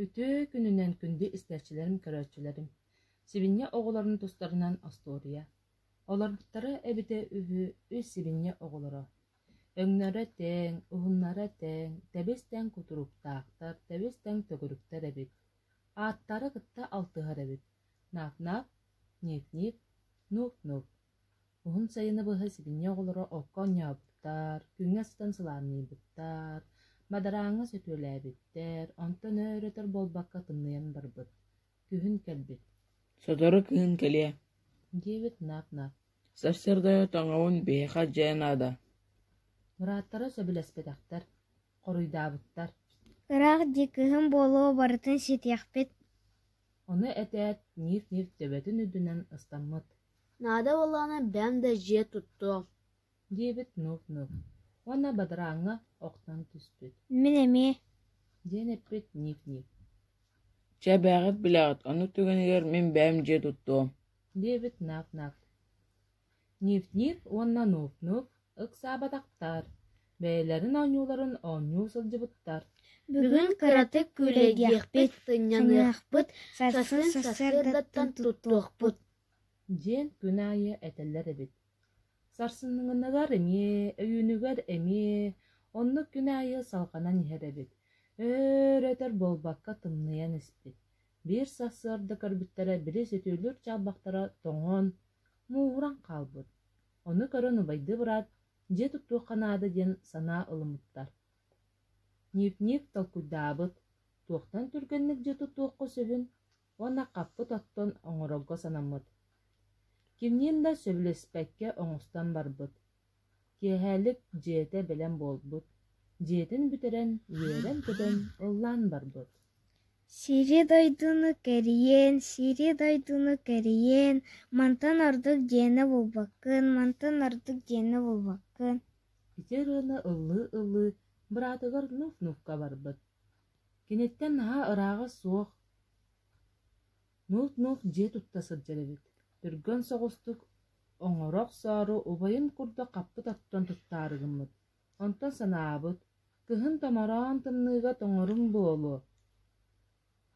Үтүө күнүнэн күндү истээччилэрим, көрөөччүлэрим! Сибиньэ оҕолорун тустарынан остуоруйа. Олоротторо эбитэ үһү үс сибиньэ оҕолоро. Өҥнөрө тэҥ, уһуннара тэҥ, тэбис-тэҥ кутуруктаахтар, тэбис-тэҥ төгүрүктэр эбит. Ааттара кытта алтыһар эбит. Наап-наап, нип-нип, нууп-нууп. Уһун сайыны быһа сибиньэ оҕолоро окко оонньообуттар, күҥҥэ астан сылаанныйбыттар, мадарааҥҥа сөтүөлээбиттэр, онтон өр-өтөр буолбакка тымныйан барбыт. Күһүн кэлбит. «Сотору кыһын кэлиэ» диэбит нап-нап. Сарсыарда тоҥоҕун биһиэхэ дьэ наада Мырааттара сөбүлэспэтэхтэр, хоруйдаабыттар. Ыраах дии кыһын буолуо барытын ситиэхпит Ону этээт, Ниф-Ниф төбөтүн үрдүнэн ыстаммыт. Наада буоллаҕына бэйэм да дьиэ туттуом диэбит нуп-нуп уонна бадарааҥҥа охтон түспүт Мин эмиэ диэн эппит нип-нип Чэбээҕит билэҕит, ону түгэнигэр мин бэйэм дьиэ туттуом диэбит нап-нап Нип-нип уонна нуп-нуп Ыксаабатахтар, бэйэлэрин оонньууларын оонньуу сылдьыбыттар. Бүгүн кыратык күлэйдиэхпит, сынньаныахпыт, сарсыардаттан туттуохпут диэн күн аайы этэллэр эбит. Сарсыныгыгар эмиэ, өйүүнүгэр эмиэ, оннук күн аайы салҕанан иһэр эбит. Өөр-өтөр буолбакка тымныйан испит. Биир сарсыарда көрбүттэрэ били сүтүүлүүр чаалбахтара тоҥон, мууран хаалбыт. Ону көрөн убайдыы быраат, дьиэ туттуохха наада диэн санаа ылыммыттар. Ньиипниик толкуйдаабыт, туохтан түргэнник дьиэ туттуохха сөбүн уонна хаппыт оттон оҥорорго санаммыт. Кимниин да сөбүлэспэккэ оҥостон барбыт. Киэһээлик дьиэтэ бэлэм буолбут. Дьиэтин бүтэрэн, үөрэн-көтөн ыллаан барбыт. Сири-дойдуну кэрийэн, сири-дойдуну кэрийэн, мантан ордук дьиэнэ булбаккын, мантан ордук дьиэнэ булбаккын Ити ырыаны ылыы-ылыы быраатыгар нуф-нуфка барбыт. Киниттэн наһаа ырааҕа суох, нуф-нуф дьиэ тутта сылдьар эбит. Түргэн соҕустук оҥоро охсоору убайым курдук хаппыт оттон тутtaары гыммыт Онтон санаабыт, кыһын томороон тымныыга тоҥорум буолуо,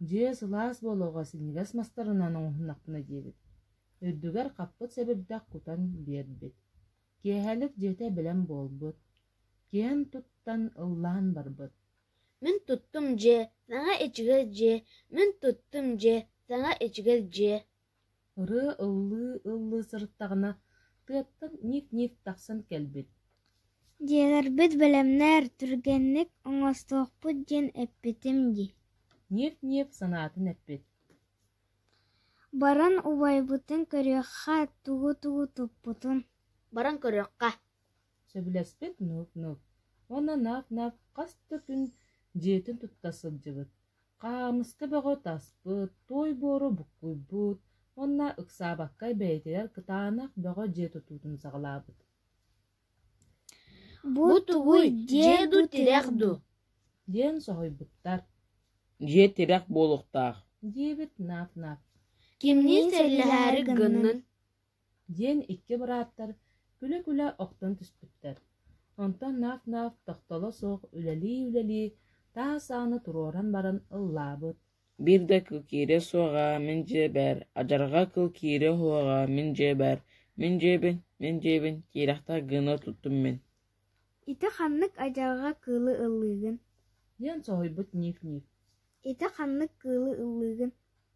дьиэ сылаас буолуоҕа синньигэс мастарынан оҥоһуннахпына диэбит, үрдүгэр хаппыт сэбирдэх кутан биэрбит. Киэһэлик дьиэтэ бэлэм буолбут, киэн туттан ыллаан барбыт. «Мин туттум дьиэ, саҥа ичигэс дьиэ, мин туттум дьиэ, саҥа ичигэс дьиэ» Ырыа ыллыы-ыллыы сырыттаҕына, тыаттан ниит-ниит тахсан кэлбит Дьиэлэрбит бэлэмнэр, түргэнник оҥостуохпут диэн эппитим дии Ниэп-ниэп санаатын эппит Баран убайбытын көрүөххэ тугу-тугу туппутун Баран көрүөххэ Сөбүлэспит нууп-нууп Уонна наап-наап хас да күн дьиэтин тутта сылдьыбыт Хаамыска бөҕө таспыт, туой буору буккуйбут уонна ыксаабаккай бэйэтигэр кытаанах бөҕө дьиэ тутуутун саҕалаабыт «Бу тугуй, дьиэ дуу, тирэх дуу?» диэн соһуйбуттар. «Дьиэ тирэх буолуохтаах» диэбит наап-наап. «Кимниин сэллэһээри гыннын диэн икки бырааттар күлэ-күлэ охтон түспүттэр. Онтон наах-наах тохтоло суох үлэлии-үлэлии таас ааны туруоран баран ыллаабыт «Биир да кыл киириэ суоҕа, мин дьиэбэр, адьарҕа кыл киириэ уһуоҕа, мин дьиэбэр, мин дьиэбин, мин дьиэбин» киирэхтэр гыныа туттум мин Ити ханнык адьарҕа кыылы ыллыыгын? диэн соһуйбут Ник-Ник Ити ханнык кыылы ыллыыгын?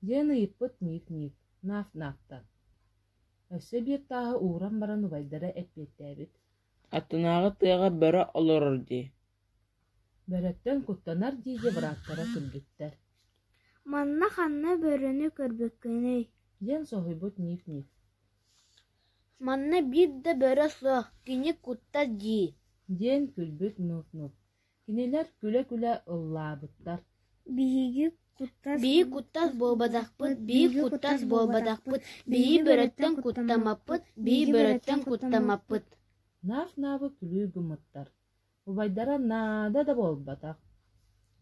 диэн ыйыппыт Ник-Ник Наф-Нафтан Өссө биир тааһы ууран баран убайдара эппиэттээбит Аттынааҕы тыаҕа бөрө олорор дии Бөрөттөн куттанар диэки бырааттара күлбүттэр Манна ханна бөрөнү көрбүккүнүй? диэн соһуйбут Ник-Ник Манна биир да бөрө суох, кини кутта дии диэн күлбүт нуп-нуп, кинилэр күлэ-күлэ ыллаабыттар Биһиги куттас буолбатахпыт, биһи куттас буолбатахпыт, биһи бөрөттөн куттаммаппыт, биһи бөрөттөн куттаммаппыт Наaf-наабы күлүү гыммыттар Убайдара наада да буолбатах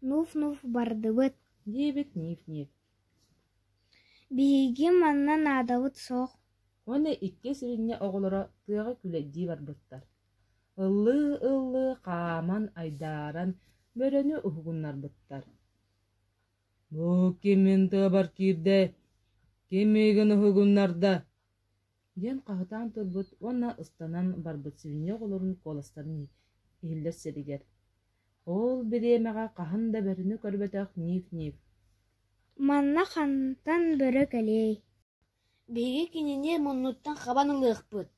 «Нуф-нуф бардыбыт» диэбит нип-нип Биһиги манна наадабыт суох Уонна икки сүрүннэ оҕолоро тыаҕа күлэйдии барбыттар Ыллыы-ыллыы хааман айдааран бөрөнү уһугуннарбыттар «Бу кимин тыабар киирдэ, ким миигин уһугуннарда диэн хаһытаан турбут уонна ыстанан барбыт свинья оҕолорун куоластарын иһиллэр сиригэр ол бириэмэҕэ хаһан да бөрөнү көрбөтөх ниив-ниив манна хантан бөрө кэлиэй биһиги кинини муннуттан хабан ылыахпыт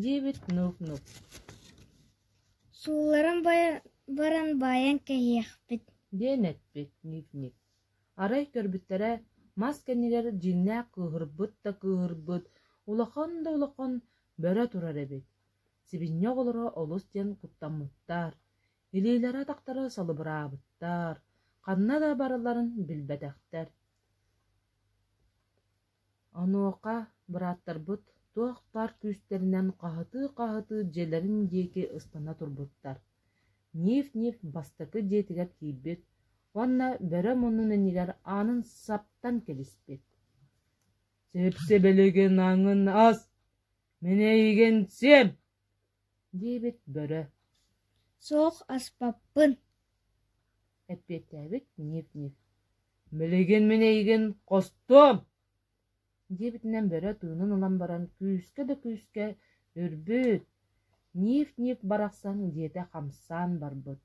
диэбит нук-нук суулларын баран баран баайан кэһиэхпит диэн эппит ниив-ниив Арай көрбүттэрэ, мас кэннигэр дьиҥнээх кыыһырбыт да кыыһырбыт, улахан да улахан бөрө турар эбит. Сибинньэ оҕолоро олус диэн куттаммыттар, илиилэрэ-атахтара салыбыраабыттар, ханна да барыларын билбэтэхтэр Онуоха бырааттарбыт туох тар күүстэринэн хаһытыы-хаһытыы дьиэлэрин диэки ыстана турбуттар, ниф-ниф бастакы дьиэтигэр киирбит уонна бөрө муннун иннигэр аанын саптан кэбиспит «Сип-сибилигин аҥын ас, мин эйигин сиэм» диибит бөрө суох аспаппын эппиэттээбит нип-нип билигин мин эйигин хостуом диэбитинэн бөрө тыынын ылан баран күүскэ да күүскэ үрбүт нип-нип барахсан дьиэтэ хамсаан барбыт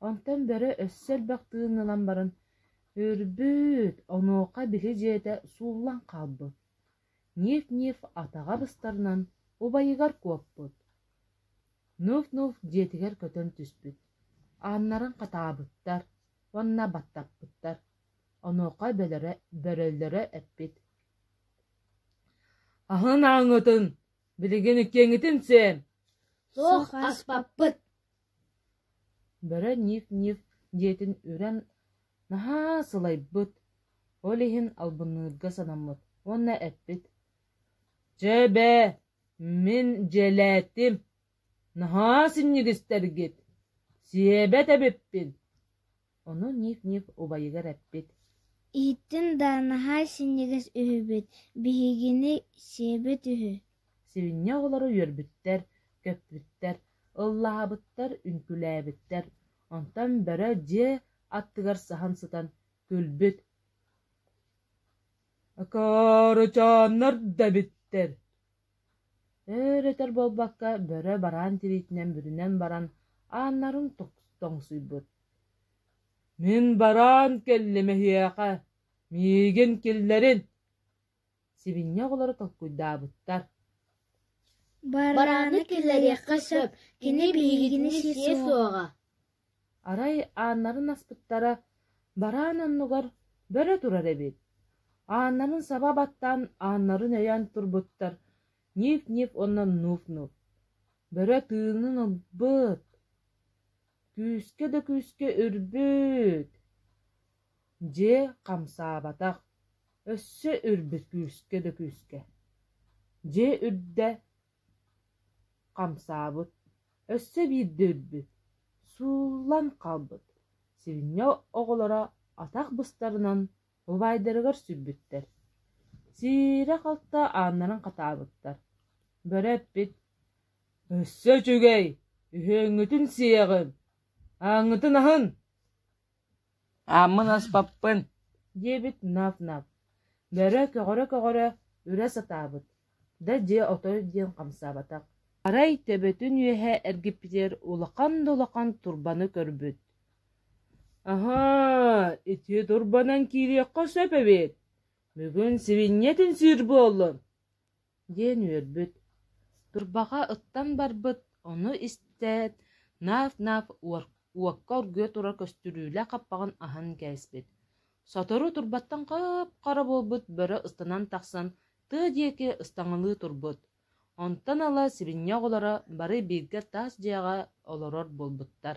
онтон бөрө өссө элбэх тыын ылан баран үрбүт онуоха били дьиэтэ сууллан хаалбыт Ниев-ниев атаҕа быстарынан убайыгар куоппут, нуф-нуф дьиэтигэр көтөн түспүт, ааннарын хатаабыттар уонна баттаппыттар, онуоха бөлөрө бөрөллөрө эппит: «Аһын ааҥҥытын, билигин иккиэҥитин сиэн, суох аспаппыт» Бөрө нип-нип диэтин үрэн наһаа сылайбыт, ол иһин албынныырга санаммыт уонна эппит: «Чэ, бээ, мин дьэлээтим, наһаа синньигистэргит, сиэбэт эбиппин» Ону ник-ник убайыгар эппит Ииттин да наһаа синньигэс үһүбүт, биһигини сиэбэт үһү Сиринньэ оҕолоро үөрбүттэр, көппүттэр, ыллаһабыттар, үҥкүүлээбиттэр, онтон бөрө дьиэ аттыгар саһан сытан күлбүт Ыкаарычааннар да эбиттэр Өр-өтөр буолбакка, бөрө бараан тириитинэн бүрүнэн баран, ааннарын тоҥсуйбут: «Мин бараан кэллим эһиэхэ, миигин киллэрин!» Сибиньэ оҕолоро толкуйдаабыттар: «Барааны киллэриэххэ сөп, кини биһигини сиэ суоҕа» Арай ааннарын аспыттара, бараан оннугар бөрө турар эбит, ааннарын саба баттаан ааннарын өйөөн турбуттар ньип-ньип уонна нууп-нууп, бөрө тыынын ылбыт, күүскэ да күүскэ үрбүт, дьиэ хамсаабатах, өссө үрбүт күүскэ да күүскэ, дьиэ үрдэ Хамсаабыт, өссө биирдэ өлбүт, сууллан хаалбыт сивня оҕолоро атах быстарынан убайдарыгар сүрбүттэр, сиирэ-халта ааннарын хатаабыттар, бөрө эппит: «Өссө үчүгэй, үһүөҥҥүтүн сиэҕим, ааҥҥытын аһын!» Ааммын аспаппын, диэбит нап-нап, бөрө-көҕөрө-көҕөрө үрэ сатаабыт, да дьиэ отой диэн хамсаабатах, арай төбөтүн үөһэ эргиппитигэр улахан да улахан турбаны көрбүт: «Аһаа, ити турбанан киириэххэ сөп эбит, бүгүн сибиньиэтин сүүр буоллун!» диэн үөрбүт, турбаҕа ыттан барбыт, ону истээт, наф-наф уокка оргуйа турар көстүрүүлээх хаппаҕын аһан кээспит, сотору турбаттан хап-хара буолбут бөрө ыстанан тахсан тыа диэки ыстаҥалыы турбут, онтон ыла сибинньэ оҕолоро бары бииргэ тас дьиэҕэ олорор буолбуттар